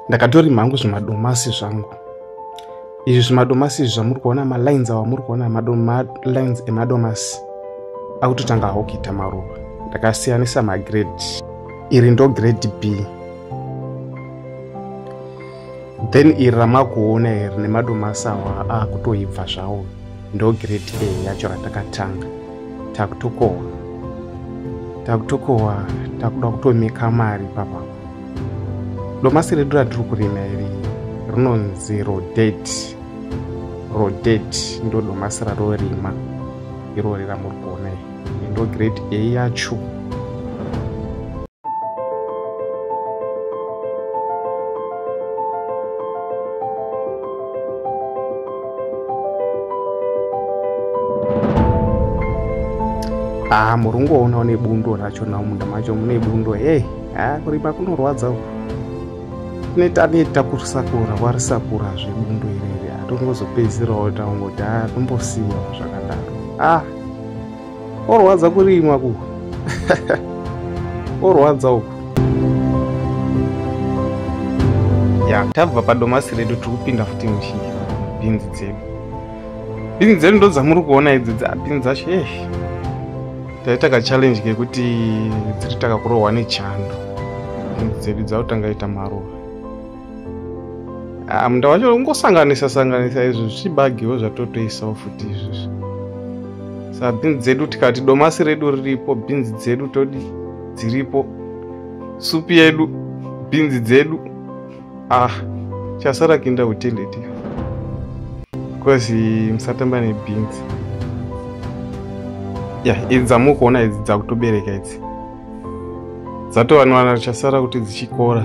ndakatorima hangu zvimadomasi zvangu izvi zvimadomasi izvi zvamuri kuona malines awa muri kuona malines emadomasi akutotanga hawo kuita maruva ndakasiyanisa magrade iri ndo grade b then iri ramakuona iri nemadomasi awa akutoibva zvawo ndo grade a yacho ratakatanga takutokohwa takutokohwa takuda kutomeka mari papa domasi redu ratiri kurima iri rinonzi rodet rodet ndo domasi rarorima irori ramuri kuona iri ndo grade a yacho haa ah, muri kungoonawo nebundo racho nawo munda macho mune bundo hey haa ah, kurima kunorwadza uku neta neta kusakura warisakura zvebundo irere hatongozopedzisirawo taungoti haa ah, tombosiyawo zvakadaro ah Orwadza kurimwa ku. Orwadza uku. Ya, tabva padomasi redu tiri kupinda futi mushinga. Bhinzi dzedu. Bhinzi dzedu ndo dzamuri kuona idzi dza bhinzi dzacho. Eh. Taita ka challenge kekuti dziri takakurohwa nechando. Bhinzi dzedu dzakutanga ita maruva. Ah, munda wacho ungosanganisa sanganisa izvo zvichibagiwo zvatotoisawo futi izvozvo sa bhinzi dzedu tikati domasi redu riripo bhinzi dzedu todi dziripo supi yedu bhinzi dzedu ah chasara kuinda utendeti bcause musatamba nebhinzi ya yeah, idzi dzamukuona idzi dzakutobereka idzi dzatovanwana richasara kuti dzichikora